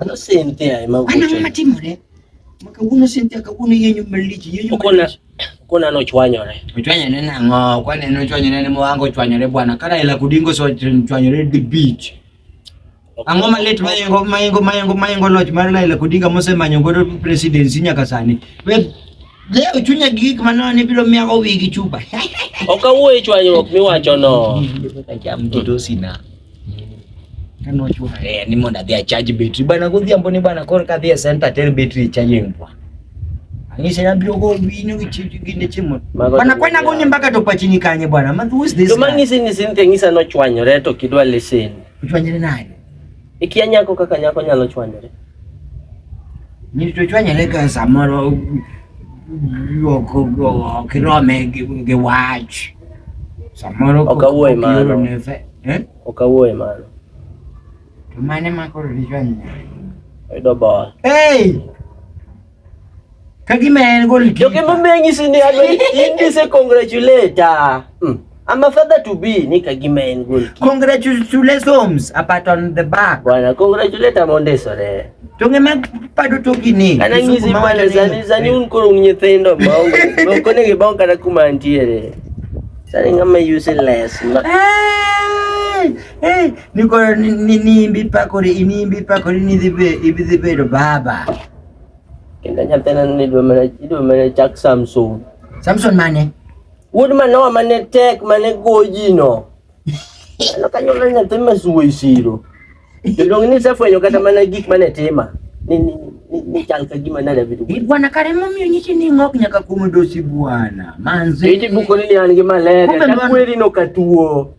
Ano sente ya ema uko. Ana mama timore. Makaguno sente akaguno yenyu malichi yenyu. Uko na uko na no chwanyore. Chwanyore na ngo kwa ne no chwanyore ne mwango chwanyore bwana. Kana ila kudingo so chwanyore the beach. Ango malet mayengo mayengo mayengo mayengo lodge mar Laila Kudinga mose manyo godo presidency nyaka sani. We Leo chunya gi gik manono ni biro miya owi gi chupa. Ok awuoyo e chwanyruok miwachono. Acham mtoto sina. Kano chwa eh, ni mondo adhi achaj betri bana godhiambo ni bana koro kadhi e center ter betri chajeng bwa. Angise na biro go winyo gi chitu gi ne chimo. Bana kwena go ni mbaka to pachini kanye bwana. Ma who is this? To mangisi ni sinte ngisa no chwanyore to kidwa listen. Chwanyore nani? Ikia nyako kaka nyako nyalo chwanyore. Ni to chwanyore ka samoro ok ok irome gi gi wach. Samoro Ok awuoye mano. ioro ne fe- Eh? Ok awuoye mano. To mane ma koro dichwanyore? Oyudo ball. Hey! Kagima en gol kipa. Joke mamenyi sini hado hindi se congratulate. Ah. Mm. I'm a father to be ni kagima en gol kipa. Congratulations apart on the back. Bwana congratulate amonde sore. Tonge mag pado to gini. Kana ngizi male zani zani un koro nyithindo maonge. Moko ne gibon kata kuma antiere. Sani ngama useless. Hey, hey, niko ni ni imbi pakori, ni imbi pakori ni dhibe, ibi dhibe baba. Kenda nyathina ni idwa mana idwa mana chak Samson. Samson mane? Wuod Manoa mane tek mane goji no. Ano kanyuola nyathi ma suwo e siro. Jodong ni sefwenyo kata mana gik mane tima. Ni ni ni, ni chal ka gima nada vitu. Bi bwana kare momiyo nyiti ni ng'ok nyaka kuom dosi bwana. Manzi. Iti buko ni an gi malaria. Kumbe mano- Takweri no katuo.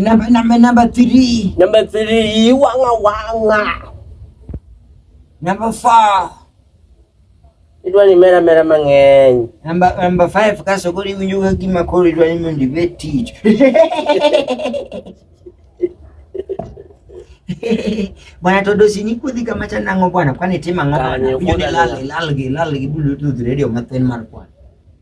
Number, number, number three. Number three, wanga wanga. Number four. Idwa ni mera mera mang'eny. Number number five kaso koro iwinjo ka gima koro idwa ni mondo ibed tich. Bwana Todosi ni kudhi kama cha nang'o bwana kwani tima ng'o bwana. Unyo ni lal lal gi lal gi bulu tu radio mathen mar bwana.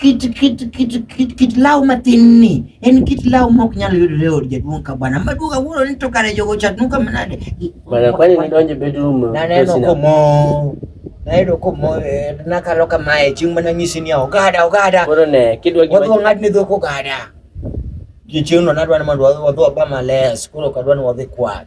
kit kit kit kit kit law matin ni en kit law ma ok nyal yudore e od jaduong' ka bwana maduong' awuoro ni to kare jogo chatnu ka manade Bana kwani nidonje bedroom to naneno sina. komo nayudo komo eh, nakalo kamae chieng' mana nyisi niya ogada ogada Koro ne kidwa gi wadhi wang'ad ne dhok ogada chieng'no nadwa ni mondo wadhi- wadhi waba males koro ok adwa ni wadhi kwath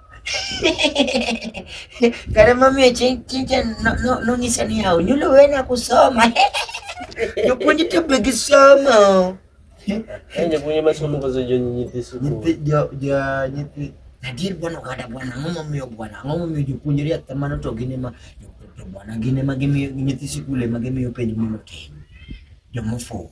Karema mie chinja nonyisa ni yaw nyulo wena kusoma jopuonj to be gisomo jopuonj masomo koso jonyithi sukul Nadir bwana kada bwana ngomo mio bwana ngomo mio jopuonjre atamano to gine ma to bwana gine ma gimiyo nyithi sikul ema gimiyo penjo mondo otim jomofuwo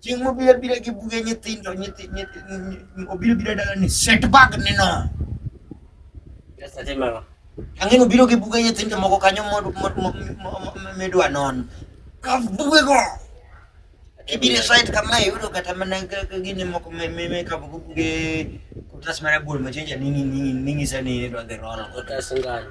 Chieng' mobiro abira gi buge nyithindo nyithi- nyithi- nyi- obiro bira dala ni set bag ni no. Yes, I remember. Ang'e ni obiro gi buge nyithindo moko kanyo mod- mod- mo- mo- mo- midwa non. Kaw bugego. Ibiro site kama iyudo kata mana ka- ka gini moko me- me- me kaw buge kutas mara buol machenja ning'i- ning'i- ning'isa ni idwa dhi roll. Otas ngano.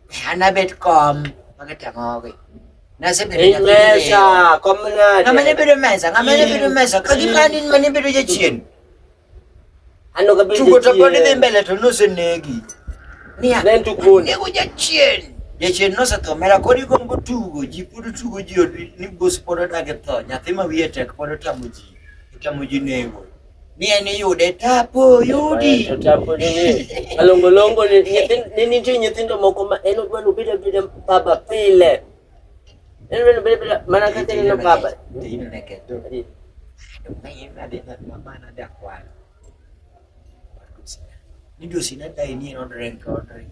Ana bet kom. Maka tangogi. Nasa bedo Ei mesa, kom na. Ngama ne bedo mesa, ngama ne bedo mesa. Kagi mani mani bedo jachien. Ano ka bedo jachien. Chugo to podi dhi mbele to nose negi. Nia. Ne tuk boni. Nego jachien. Jachien nose to mera kodi gombo tugo. Ji pudu tugo ji ni bos podo dage to. Nyathi ma wiye tek podo tamo ji. Tamo ji nego. ni en iyude tapo yudi To tapo ni ni malongo longo ni nyithindo ni nitie nyithindo moko ma en odwa ni obed abeda baba pile. En odwa ni obed abeda mana kaka ineno baba. Midosi nadai ni en odrenk odrenk.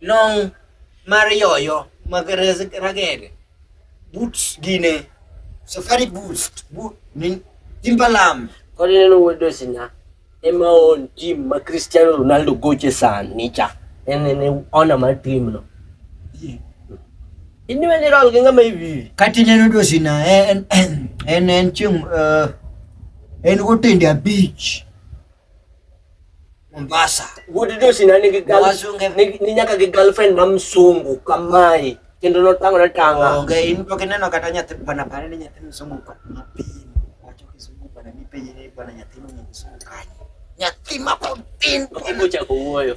long' mar yoyo mag ragede, but gine, safari boots, boot, timbalam. Kod ineno wuod Osina ema on tim ma Cristiano Ronaldo goche sani cha. En en ona mar tim no. Ini wani rol gi ng'ama iwi. Kati neno Osina en en en chieng' eh, en wotende abich. Mombasa. Good news na nigi gal Wazunge. ni, ni nyaka gi girlfriend ma msungu kamae kendo notango na tanga. Onge in pok ineno kata nyathi bwana pare ni nyathi msungu ka mapin. Wacho kisungu bwana mipenje ni bwana nyathi mwenye msungu kanye. Nyathi mapod tin. Obocha ko wuoyo.